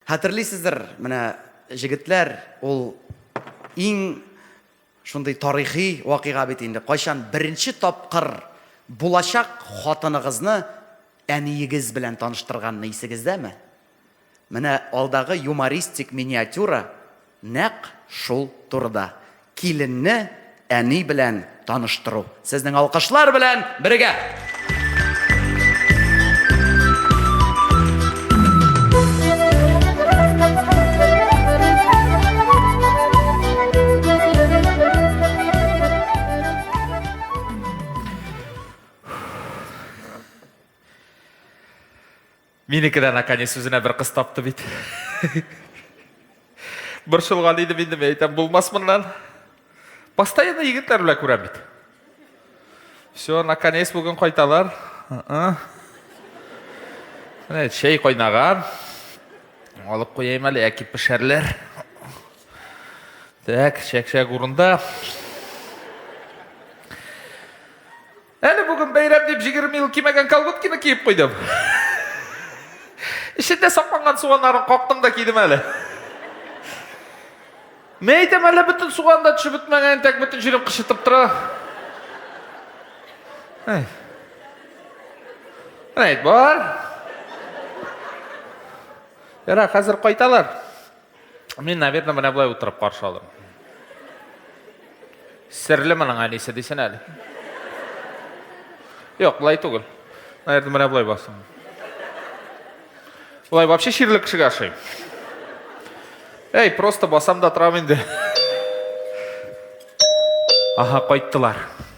Хәтерлисездер, менә җегетләр, ул иң шундый тарихи вакыйга бит инде. Кайчан беренче тапкыр булачак хатыныгызны әниегез белән таныштырганны исегездәме? Менә алдагы юмористик миниатюра Нәкъ шул турыда. Киленне әни белән таныштыру. Сезнең алкышлар белән бергә! Минеке дә наконец үзенә бер кыз тапты бит. Борчылган идем инде, мин әйтәм, булмас моннан. Постоянно егетләр белән күрәм бит. Все, наконец бүген кайталар. Менә чәй кайнаган. Алып куяйм әле, яки пешәрләр. Так, чәк-чәк урында. Әле бүген бәйрәм дип җигерме ел кимәгән колготкины киеп куйдым. Эчендә сакланган суганнарын кактым да кидем әле. Мә әйтәм, әле бөтен суган да төшеп бетмәгән, тәк бөтен җирем кычытып тора. Әй. Әйт, бар. Яра, хәзер кайталар. Мин, наверное, менә болай утырып каршы алырмын. Серле моның әнисе дисен әле. Юк, болай түгел. Наверное, менә болай басым. Болай вообще чирле кешегә ошый. Эй, просто басам да торам инде. Аха, кайттылар.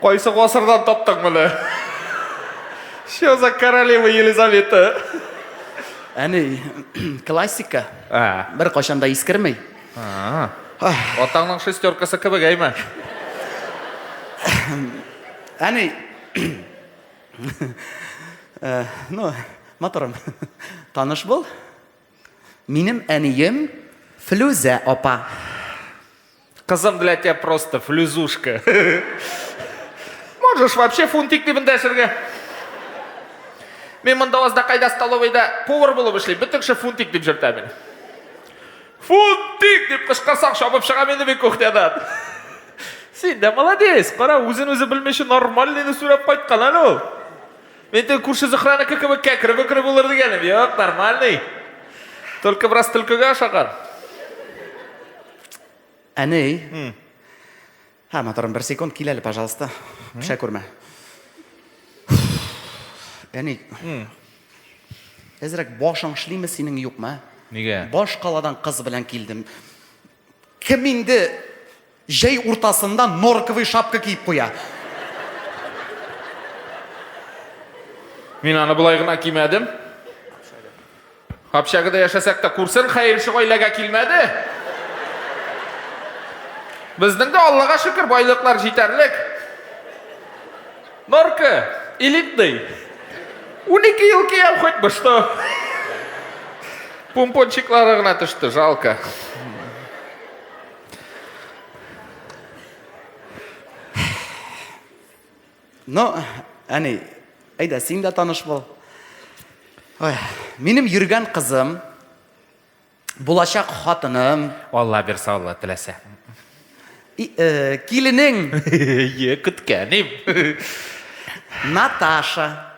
Кайсы гасырдан таптың моны? Что за королева Елизавета? Әни, классика. А. Бер кайчан да искермей. А. Атаңның шестеркасы кебек әйме? Әни. Э, ну, моторым. Таныш бул. Минем әнием Флүзә апа. Кызым для тебя просто флюзушка. Можешь вообще фунтик дип дәшергә. Мин монда азда кайда столовыйда повар булып эшлим. Бөтен кеше фунтик дип җөртә мин. Фунтик дип кычкырсаң чабып чыга мин бит кухнядан. Син дә молодец, кара, үзен үзе белмичә нормальныйны сүрәп кайткан әле ул. Мин теге күрше Зөһрәнеке кебек кәкре бөкре булыр дигәнем. Юк, нормальный. Только бераз төлкегә ошаган. Әней. Һә, моторым, бер секунд кил әле, пожалуйста. Пешә күрмә. Әней. Әзрәк башың эшлиме синең юкмы? Нигә? Баш каладан кыз белән килдем. Кем инде җәй уртасында норковый шапка киеп куя? Мин аны болай гына кимәдем. Общагада яшәсәк тә күрсен, хәер шул гаиләгә килмәде. Безнең дә Аллага шөкер, байлыклар җитәрлек. Норка, элитный. Унике ел кейәм хоть бы что. Пумпончиклары гына төште, жалко. Ну, әне, әйдә, син дә таныш бул. Ой, минем йөргән кызым, Булачак хатыным. Алла бирсә Алла теләсә. И, э, киленең. Е, көткәнем. Наташа.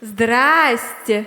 Здрасте.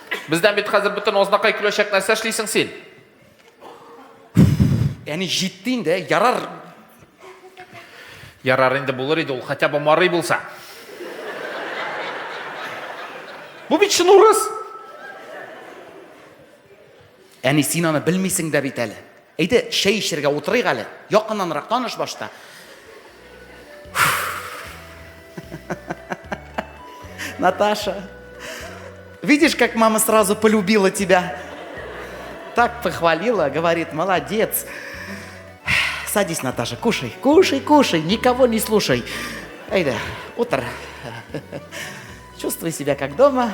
Бездән бит хәзер бөтен ознакай көләчәк нәрсә эшлисең син? Әни җитте инде, ярар. Ярар инде булыр иде ул, хотя бы марый булса. Бу бит чын урыс. Әни, син аны белмисең дә бит әле. Әйдә, чәй эчергә утырыйк әле. Якыннанрак таныш башта. Наташа, видишь, как мама сразу полюбила тебя? Так похвалила, говорит, молодец. Садись, Наташа, кушай, кушай, кушай, никого не слушай. Айда, утро. Чувствуй себя как дома.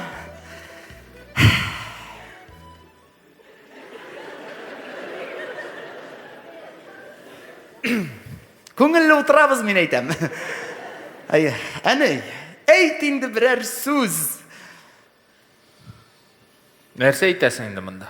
Күңелле утырабыз, мин әйтәм. Әй, әне, әйт инде берәр сүз. Нәрсә әйтәсең инде монда?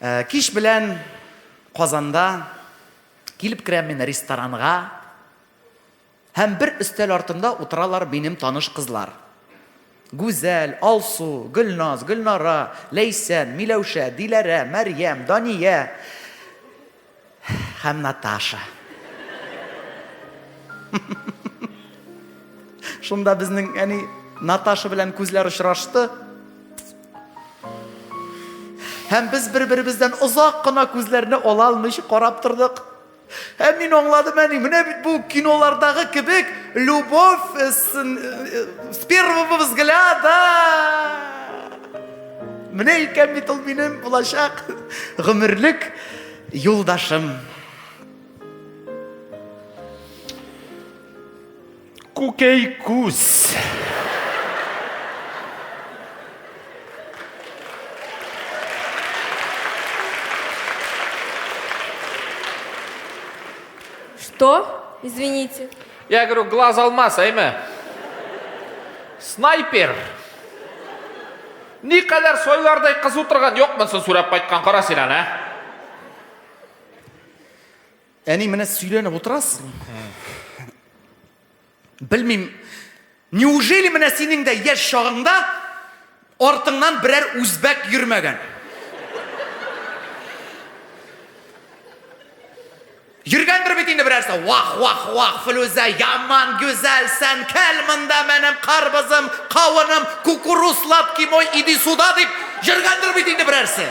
Э, кич белән Казанда килеп керәм мин ресторанга һәм бер өстәл артында утыралар минем таныш кызлар. Гүзәл, Алсу, Гөлназ, Гөлнара, Ләйсән, Миләүшә, Диләрә, Мәрьям, Дания. Һәм Наташа. Шунда безнең әни Наташа белән күзләр очрашты. Һәм без бер-беребездән озак кына күзләрне ала алмыйча карап тордык. Һәм мин аңладым әни, менә бит бу кинолардагы кебек любовь э, э, с первого взгляда. Менә икән бит ул минем булачак гомерлек юлдашым. Күкәй күз. Что? Извините. Я говорю, глаз алмаз, әйме? Снайпер. Ни кадәр сойлардай кыз утырган, юкмысын сүрәп кайткан, кара син аны, ә? Әни, менә сөйләнеп утырасың. Белмим, Неужели менә синең дә яшь чагыңда артыңнан берәр үзбәк йөрмәгән? Йөргәндер бит инде берәрсе. Вах, вах, вах, Флүзә, яман гүзәлсән, кәл монда менем карбызым, кавыным, кукуруз, лапки мой, иди суда дип йөргәндер бит инде берәрсе.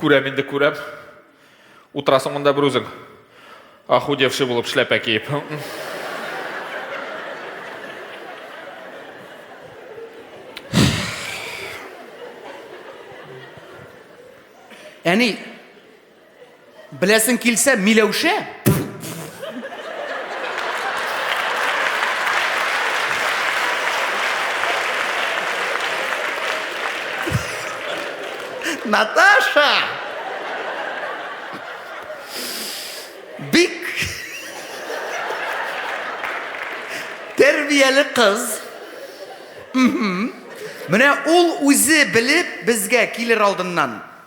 Күрәм инде, күрәм. Утырасың монда бер үзең. Ахудевши булып шляпә киеп. Әни, Беләсең килсә, Миләүшә? Наташа! Бик тәрбияле кыз. Менә ул үзе белеп безгә килер алдыннан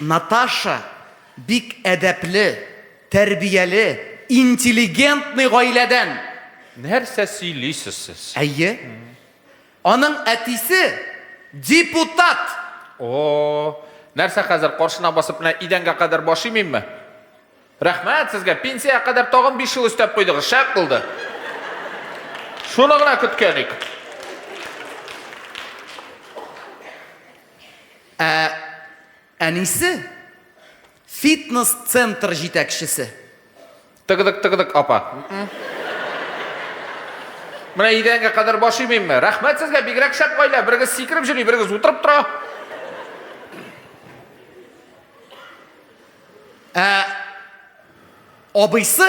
Наташа бик әдәпле, тәрбияле, интеллигентный гаиләдән. Нәрсә сөйлисез сез? Әйе. Аның әтисе депутат. О, нәрсә хәзер каршына басып менә идәнгә кадәр баш имимме? Рәхмәт сезгә, пенсиягә кадәр тагын биш ел өстәп куйдыгыз, шәп булды. Шуны гына көткән идек. Ә әнисе фитнес-центр җитәкчесе. Тыгыдык, тыгыдык, апа. Менә идәнгә кадәр баш имимме? Рәхмәт сезгә, бигрәк шәп гаилә. Берегез сикереп җөри, берегез утырып тора. Ә абыйсы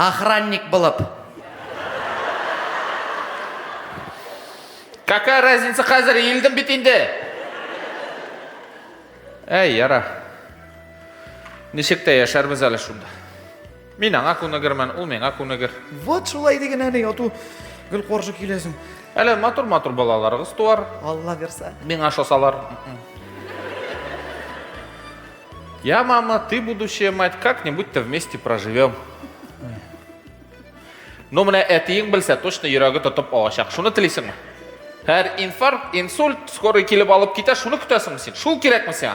Охранник булып. Какая разница хәзер илдем бит инде. Әй, яра. Ничек тә яшәрбез әле шунда. Мин аңа күнегермен, ул миңа күнегер. Вот шулай диген әни, ату гел каршы киләсең. Әле матур-матур балаларыгыз туар. Алла бирсә. Миңа шосалар. Я, мама, ты будущая мать, как-нибудь-то вместе проживем. Ну, менә әтиең белсә, точно йөрәге тотып алачак. Шуны телисеңме? Һәр инфаркт, инсульт, скорый килеп алып китә, шуны көтәсеңме син? Шул кирәкме сиңа?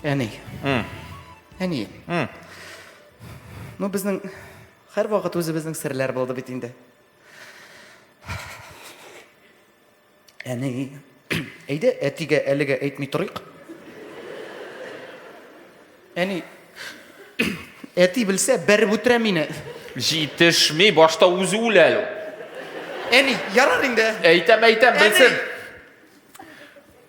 Әни. Әни. Ну, безнең һәр вакыт үзебезнең серләр булды бит инде. Әни. Әйдә, әтигә әлегә әйтми торыйк. Әни. Әти белсә, бәреп үтерә мине. Җитешми, башта үзе үлә әле. Әни, ярар инде. Әйтәм, әйтәм, белсен.